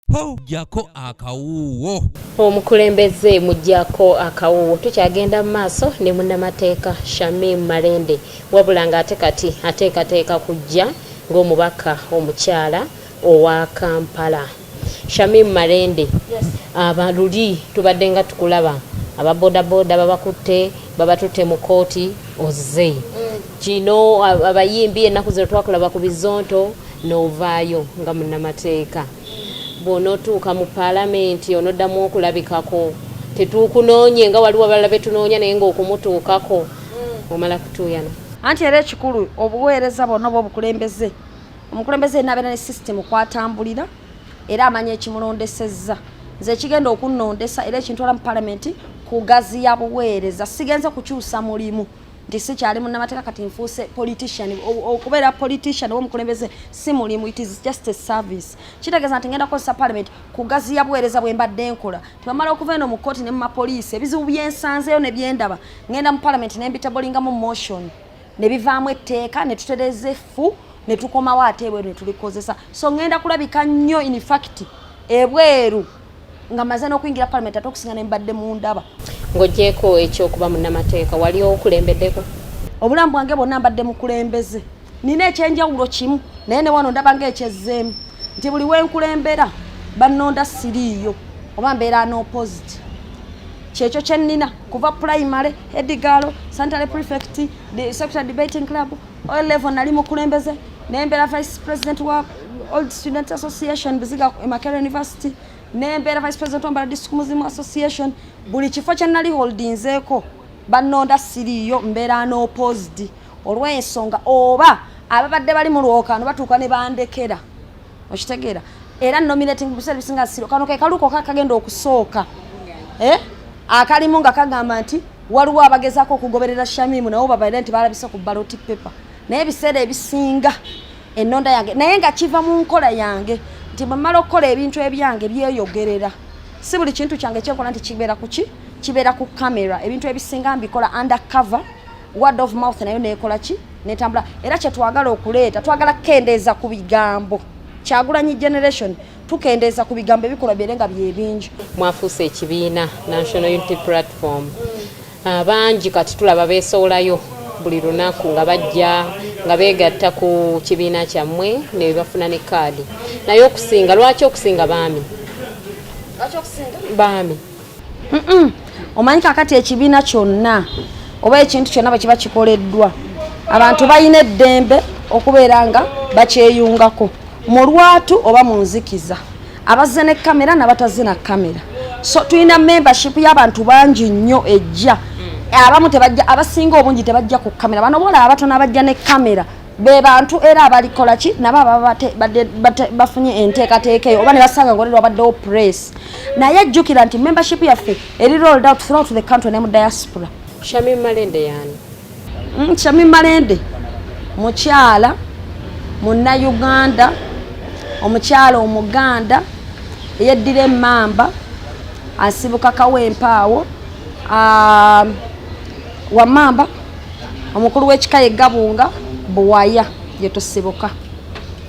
mujjako akawuuwo omukulembeze mujjako akawuuwo tukyagenda mu maaso ne munnamateeka shamim malende wabula ng'ate kati ateekateeka kujja ng'omubaka omukyala owa kampala shamim malende aba luli tubadde nga tukulaba ababodaboda babakutte babatutte mu kooti ozze kino abayimbi ennaku zino twakulaba ku bizonto n'ovaayo nga munnamateeka bw'onootuuka mu paalamenti onoddamu okulabikako tetuukunoonye nga waliwo abalala betunoonya naye ng'okumutuukako mm. omala kutuuyana anti era ekikulu obuweereza bwonna oba obukulembeze omukulembeze enabeera ne sisitemu kwatambulira era amanya ekimulondesezza nze ekigenda okunnondesa era ekintwala mu palamenti kugaziya buweereza sigenze kukyusa mulimu nti sikyali munnamateeka kati nfuuse politician okubeera politician womukulembeze si mulimu it is just a service kitegeeza nti ngenda kukozesa parliament kugaziya buweereza bwe mbadde nkola tebamala okuva eno mu kkooti ne mu mapoliisi ebizibu byensanzeeyo ne byendaba ngenda mu parliament ne mbitabolingamu motion ne bivaamu etteeka ne tutereeza effu ne tukomawo ate ebweru ne tulikozesa so ngenda kulabika nnyo in fact ebweru nga maze n'okuyingira palamenti ate okusinga ne mbadde mu ndaba ng'ogyeko ekyokuba munnamateeka wali okulembeddeko obulamu bwange bwonna mbadde mukulembeze nina ekyenjawulo kimu naye newano ndaba nga ekyezzeemu nti buli wenkulembera bannonda siriiyo oba mbeera n'opositi kyekyo kyenina kuva primary edigaalo santale prefect secretary debating club o level nali mukulembeze nembera vice president wa old student association buziga emakera university nembeera vice president wambala district muzimu association buli kifo kyenali holdinzeeko banonda siriiyo mbeera n'oposed olw'ensonga oba ababadde bali mu lwokano batuuka ne bandekera okitegeera era nominating buseera bisinga siro kano ke kaluuko kakagenda okusooka eh? akalimu nga kagamba nti waliwo abagezaako okugoberera shamimu nawo babaire nti balabise ku baloti pepa naye ebiseera ebisinga enonda yange naye nga kiva mu nkola yange nti bwemala okukola ebintu ebyange byeyogerera si buli kintu kyange kyenkola nti kibeera kuki kibeera ku kamera ebintu ebisinga mbikola under cover word of mouth nayo nekola ki netambula era kyetwagala okuleeta twagala kukendeeza ku bigambo kyagulanyi generation tukendeeza ku bigambo ebikolwa byere nga byebingi mwafuuse ekibiina national unity platform ah, bangi kati tulaba besowolayo buli lunaku nga bajja nga begatta ku kibiina kyammwe nebafuna ne kaadi naye okusinga lwaki okusinga baami baami omanyi kakati ekibiina kyonna oba ekintu kyonna bwekiba kikoleddwa abantu balina eddembe okubeera nga bakyeyungako mu lwatu oba mu nzikiza abazze ne kamera nabatazze na kamera so tulina membership y'abantu bangi nnyo ejja abamu tebajja abasinga obungi tebajja ku kamera bano bola abatono abajja ne kamera be bantu era abalikola ki nabo ababa bafunye enteekateeka eyo oba ne basanga ngolero wabaddewo press naye jjukira nti membership yaffe eri rolled out throughout the country ne mu diaspora shami malende yani mm, shami malende mukyala munnayuganda omukyala omuganda eyeddira emamba asibuka kawempaawo ah, wamamba omukulu w'ekika ye gabunga buwaya gye tusibuka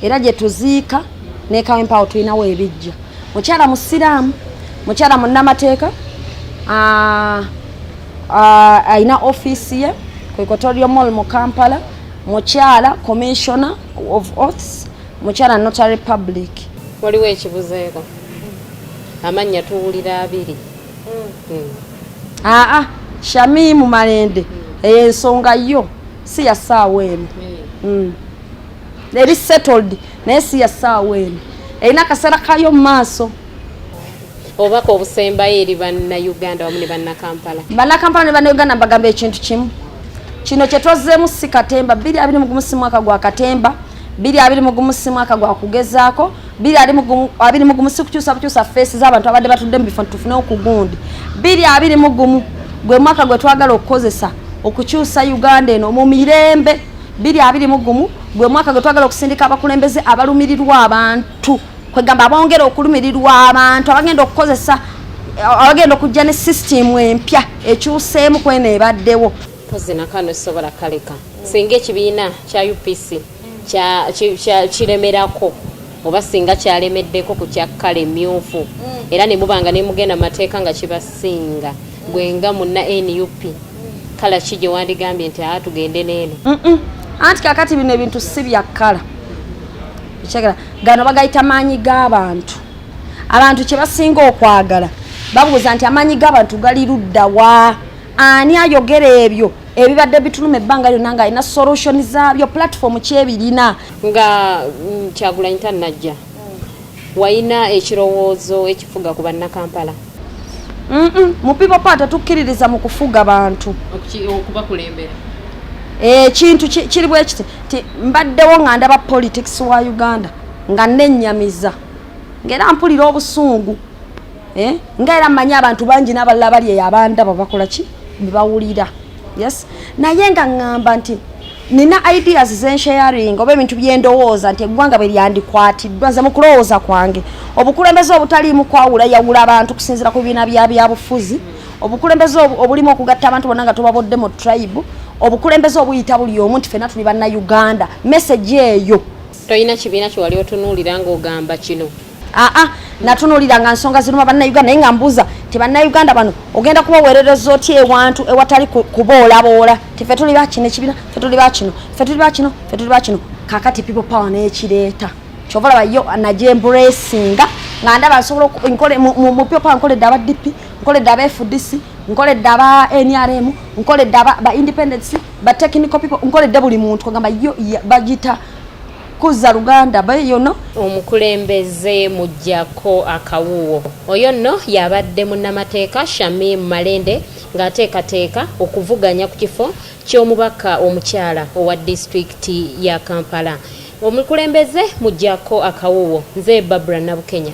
era gye tuziika nekawempawo tulinawo ebijja mukyala musiraamu mukyala munnamateeka alina ofiisi ye ku equatorio mall mu kampala mukyala commissioner of oaths mukyala notary public waliwo ekibuzeeko amannya tuwulira abiri aa shamimu malende eyo ensonga yo si ya saawa eno mm. eri settled naye si ya saawa eno erina akaseera kayo mu maaso obubaka obusembayo eri bannauganda wamu ne bannakampala bannakampala ne bannauganda mbagamba ekintu kimu kino kyetwazzeemu si katemba biri abiri mugumu si mwaka gwa katemba biri abiri mugumu si mwaka gwa kugezaako biri ali mugumu abiri mugumu sikukyusa bukyusa face z'abantu abadde batudde mu bifo tufune okugundi biri abiri mugumu gwe mwaka gwe twagala okukozesa okukyusa uganda eno mu mirembe biri abiri mugumu gwe mwaka gwe twagala okusindika abakulembeze abalumirirwa abantu kwegamba abongera okulumirirwa abantu abagenda okukozesa abagenda okujja ne sisitimu empya ekyuseemu kweno ebaddewo pozi nakano sobola kaleka singa ekibiina kya upc kiremerako oba singa kyalemeddeko ku kya kkala emmyufu mm. era ne muba nga ne mugenda mu mateeka nga kibasinga gwe nga munna nup kala ki gye wandigambye nti aa tugende neeno anti kakati bino ebintu si bya kkala ekyagala gano bagayita maanyi g'abantu abantu kye basinga okwagala babuuza nti amaanyi g'abantu gali luddawa ani ayogera ebyo ebibadde bituluma ebbanga lyonna nga alina solution zaabyo platform kyebirina nga mm, kyagulanyi tannajja walina ekirowoozo ekifuga ku bannakampala mu people part tetukkiririza mu kufuga bantu okubakulembera ekintu eh, kiri bwe kiti ti mbaddewo nga ndaba politics wa uganda nga nenyamiza ngaera mpulira obusungu eh? nga era mmanyi abantu bangi n'abalala bali eyo abandaba bakola ki bebawulira yes naye nga ŋŋamba nti nina ideas zensharing oba ebintu byendowooza nti eggwanga bwe lyandikwatiddwa nze mu kulowooza kwange obukulembeze obutaliimu kwawula yawula abantu kusinziira ku bibiina bya byabufuzi obukulembeze obulimu okugatta abantu bonna nga tubabodde mu tribe obukulembeze obuyita buli omu nti fenna tuli banna uganda message eyo tolina kibiina kyewali otunuulira ng'ogamba kino aa ah, ah, natunulira nga nsonga ziruma bannayuganda naye nga mbuuza nti bannayuganda bano ogenda kubaweerereza otya ewantu ewatali kuboolaboola ti fe tuli bakino ekibina fe tuli bakino fe tuli bakino fe tuli bakino kakati people power n'ekireeta kyova laba yo najemburesinga nga ndaba nsobola mu people power nkoledde aba dp nkoledde aba fdc nkoledde aba nrm nkoledde ba independence ba technical people nkoledde buli muntu kugamba yo bagita kuzza luganda beyono omukulembeze mujjako akawuwo oyo nno yabadde munnamateeka shamim malende ng'ateekateeka okuvuganya ku kifo ky'omubaka omukyala owa disitulikiti ya kampala omukulembeze mujjako akawuwo nze babura nabukenya